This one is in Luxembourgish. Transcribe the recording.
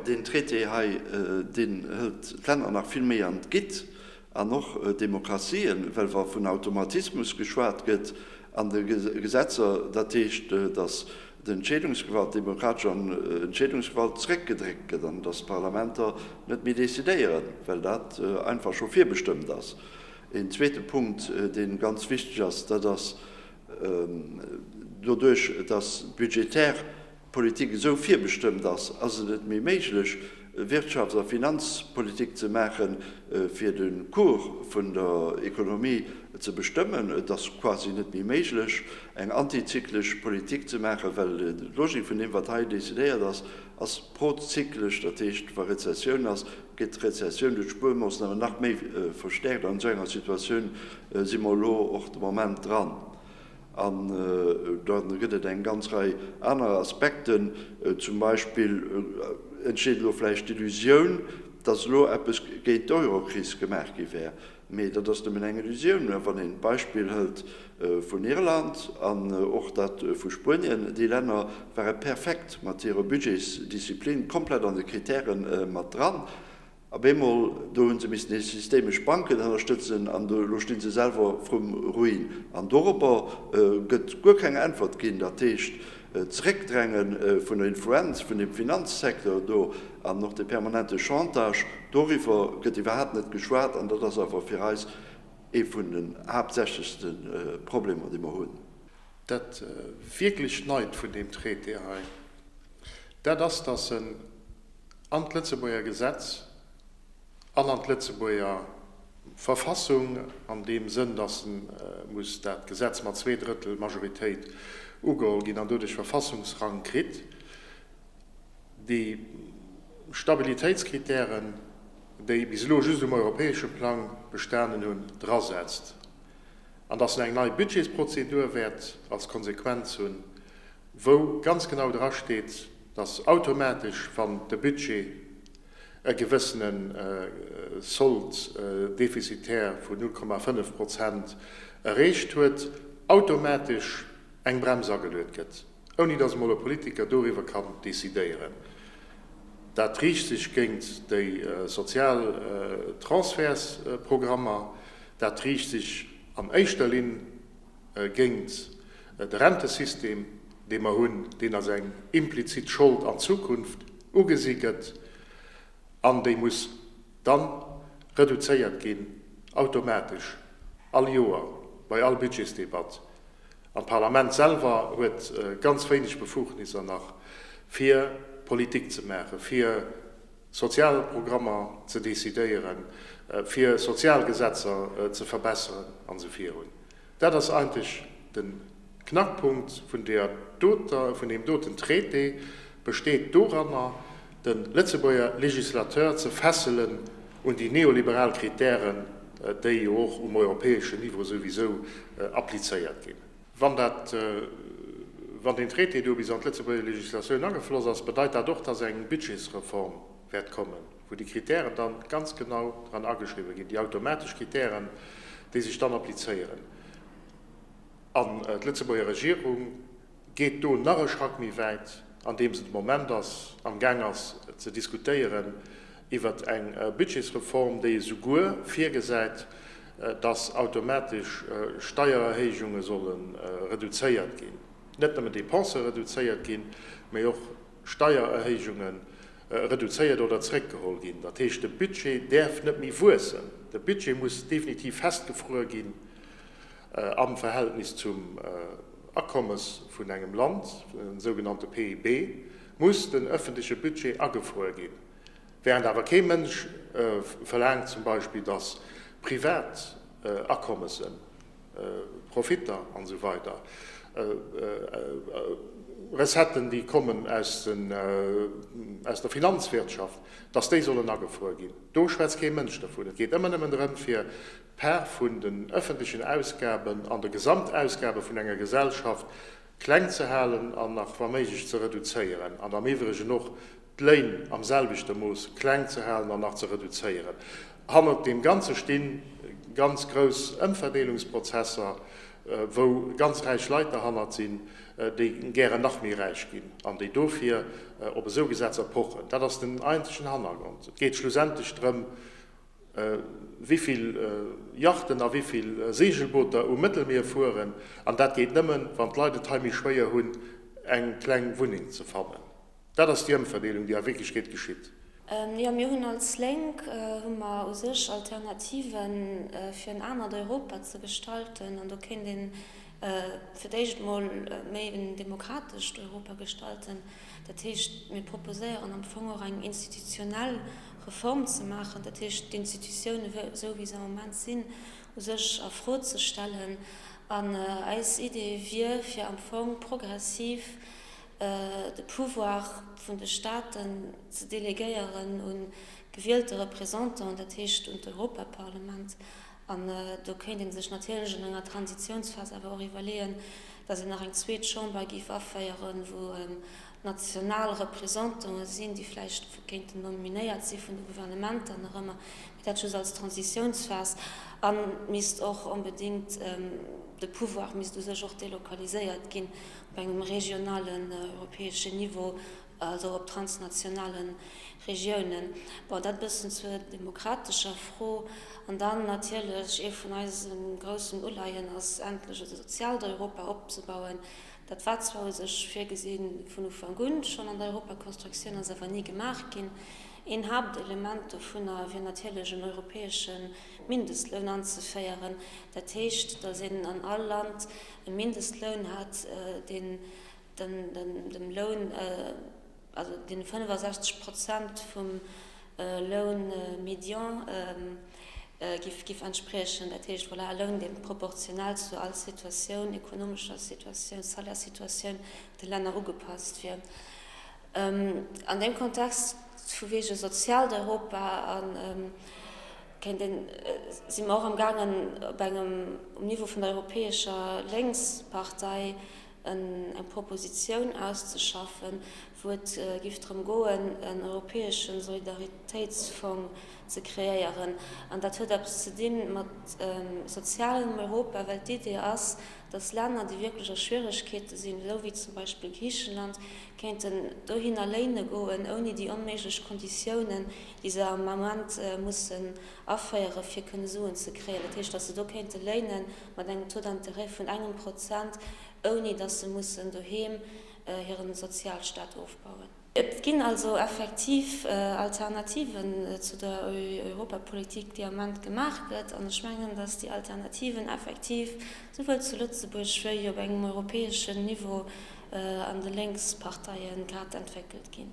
Deen Traité hei, deen hëlt d'Länner nach vill méi an d'Gitt, an och d'Demokratien, well wa vun Automatismus geschwat gëtt an de Gesetzer, dat heescht, datt d'Entscheedungsgewalt, d'demokratesch Entscheedungsgewalt zréckgedréckt gëtt an datt d'Parlamenter net méi decidéieren, well dat einfach scho virbestëmmt ass. Een zweete Punkt, dee ganz wichteg ass, dat ass, doduerch datt budgetär Politik esou virbestëmmt ass, ass et net méi méiglech, Wirtschafts a Finanzpolitik ze maachen, fir de Cours vun der Ekonomie ze bestëmmen. Et ass quasi net méi méiglech, eng antizyklesch Politik ze maachen, well d'Logik vun deem, wat hei decidéiert ass, ass prozyklesch. Dat heescht, wa Rezessioun ass, gëtt d'Rezessioun duerch d'Spuermoossnamen nach méi verstäerkt. An esou enger Situatioun si mer elo och de Moment dran. An da gëtt et eng ganz Rei aner Aspekten. Zum Beispill entsteet elo vläicht d'Illusioun, datt elo eppes géint d'Eurokris gemaach gi wär. Mee dat ass nëmmen eng Illusioun. Wann een d'Beispill hëlt vun Irland an och dat vu Spuenien, déi Länner ware perfekt mat hire Budgets, Disziplin komplett an de Krittäre mat dran. Op eemol, do hu se missen hir systemesch Banken ënnerstëtzen an elo stinn se selwer vrum Ruin. An doropper gëtt guer keng Äntwert ginn. Dat heescht, d'Zeréckdränge vun der Influenz vun deem Finanzsecteur do an och de permanente Chantage, doriwwer gëtt iwwerhaapt net geschwat an dat ass awer fir eis ee vun den haaptsächlechste Problemer, dee mer hunn. Dat wierklech Neit vun deem Traité hei, dat ass, dass en, an d'Lëtzebuerger Gesetz an an d'Lëtzebuerger Verfassung, an deem Sënn, dass muss dat Gesetz mat zwee Drëttel Majoritéit ugeholl ginn an doduerch Verfassungsrang kritt. Déi Stabilitéitskritären, déi bis elo just um europäesche Plang bestanen hunn, drasetzt. An dass en eng nei Budgetsprozedur wäert als Konsequenz hunn, wou ganz genau dra steet, dass automatesch, wann de Budget e gewëssene Solde déficitaire vu 0,5 Prozent erreecht huet, automatesch eng Brems ageluet gëtt, ouni dass emol e Politiker doriwwer kann decidéieren. Dat riicht sech géint déi sozial Transfertsprogrammer, Dat riicht sech an éischter Linn géingt de Rentesystem, dee mer hunn, deen als eng implizit Schold an d'Zukunft ugesi gëtt an déi muss dann reduzéiert ginn, automatesch, all Joer, bei all Budgetsdebatt. An d'Parlament selwer huet ganz wéineg Befugnisser nach, fir Politik ze maachen, fir. sozial Programmer ze decidéieren, fir sozial Gesetzer ze verbesseren a sou virun. Dat ass eigentlech de Knackpunkt vun deer doter, vun deem doten Traité, besteet doranner, de Lëtzebuerger Législateur ze fesselen un déi neoliberal Kritären, déi jo och um europäeschen Niveau souwisou applizéiert ginn. Wann dat, wann deen Traité do bis an d'Lëtzebuerger Législatioun agefloss ass, bedeit dat och, dass eng Budgetsreform wäert kommen, wou déi Kritären dann ganz genau dran ageschriwwen ginn, déi automatesch Kritären, déi sech dann applizéieren. An d'Lëtzebuerger Regierung geet do nach e Schrack méi wäit, andeems se de Moment ass, amgaang ass ze diskutéieren, iwwert eng Budgetsreform, déi esouguer virgesäit, datt automatesch Steiererhéijunge solle reduzéiert ginn, net nëmmen Depensë reduzéiert ginn, mee och Steiererhéijunge reduzéiert oder zréckgeholl ginn. Dat heescht, de Budget däerf net méi wuessen. De Budget muss definitiv festgefruer ginn am Verhältnis zum Akommes vun engem Land, de sougenannte PIB muss den ëffentleche Budget agefruer ginn. Während awer kee Mënsch verlaangt zum Beispill, dass privat Akommessen, Profitter an esou weider, Recetten, déi kommen aus der Finanzwirtschaft, dass déi sollen agefruer ginn. Do schwätzt kee Mënsch dovun. Et geet ëmmer nëmmen drëm, fir d'Part vun den öffentlichen Ausgaben an de Gesamtausgabe vun enger Gesellschaft kleng ze halen an nach wa méiglech ze reduzéieren an am iwwregen och d'Léin am selwechte Mooss kleng ze halen an nach ze reduzéieren. Hannert deem Ganze sti ganz grouss Ëmverdeelungsprozesser, wou ganz räich Leit derhannert sinn, déi gären nach méi räich ginn an déi dofir op esou Gesetzer pochen. Dat ass den eenzegen Hannergrond. Et geet schlussendlech drëm, wéi vill Yachten a wéi vill Seegelbooter um Mëttelmier fueren, an dat geet nëmmen, wann d'Leit et hei méi schwéier hunn, eng kleng Wunneng ze fannen. Dat ass déi Ëmverdeelung, déi a Wierklechkeet geschitt. Jo, mir hunn als Lénk hu mer u sech Alternativen, fir en anert Europa ze gestalten, an do kéint een fir d'éischt emol méi en demokratescht Europa gestalten. Dat heescht, mir proposéieren am Fong och eng institutionell Reform ze maachen, dat heescht d'Institutionen, esou wéi se am Moment sinn, u sech a Fro ze stellen. An eis Idee wier, fir am Fong progressiv de Pouvoir vun de Staten ze delegéieren un gewieltere Représentant, dat heescht un d'Europaparlament. An do kéint ee sech natierlech an enger Transitiounsphas awer och iwwerleeën, datt een nach eng zweet Chamber géif aféieren, wou national Représentanten sinn, déi vläicht kéinten nominéiert si vun de Gouvernementer nach ëmmer, mee dat just als Transitiounsphas. A misst och onbedéngt, de Pouvoir misst u sech och delokaliséiert ginn op engem regionalen, europäeschen Niveau, also op transnationale Regiounen, bon dat bëssen zur demokratescher Fro. An dann natierlech, ee vun eise groussen Uleihen ass endlech e soziaalt Europa opzebauen. Dat war zwar u sech virgesi vun Ufank un schonn an der Europaconstructioun, ass awer ni gemaach ginn. Een Haaptelement dovunner wier natierlech en europäesche Mindestloun anzeféieren, dat heescht, datt een an all Land e Mindestloun hätt, deen, dem Loun, also deene 65 Prozent vum Loun médian giff entspriechen. Dat heescht, voilà, e Loun, dee proportional zu all Situatioun, ekonomescher Situatioun, Salaire-situatioun de Länner ugepasst wier. An deem Kontext, vu wege soziaalt Europa, si mer och am gaangen, op engem, um Niveau vun der Europäescher Lénkspartei, eng Propositioun auszeschaffen, wou et giff drëm goen, en europäesche Solidaritéitsfong ze kreéieren. An dat huet eppes ze di mat sozialem Europa, well d'Idee ass, datt Länner, déi wierklech a Schwieregkeete sinn, esou wéi zum Beispill Griicheland, kéinten dohinner léine goen, ouni déi onméiglech Konditiounen, déi se am Ament mussen aféieren, fir kënne Suen ze kréien. Dat heescht, datt se do kéinte léinen. mat engem Taux d'intérêt vun engem Prozent, ouni datt se mussen doheem hire Sozialstaat ofbauen. Et ginn also effektiv Alternativen zu der Europapolitik, déi am Moment gemaach gëtt. An ech mengen, datt déi Alternativen effektiv souwuel zu Lëtzebuerg wéi op engem europäeschen Niveau an de Lénksparteie grad entwéckelt ginn.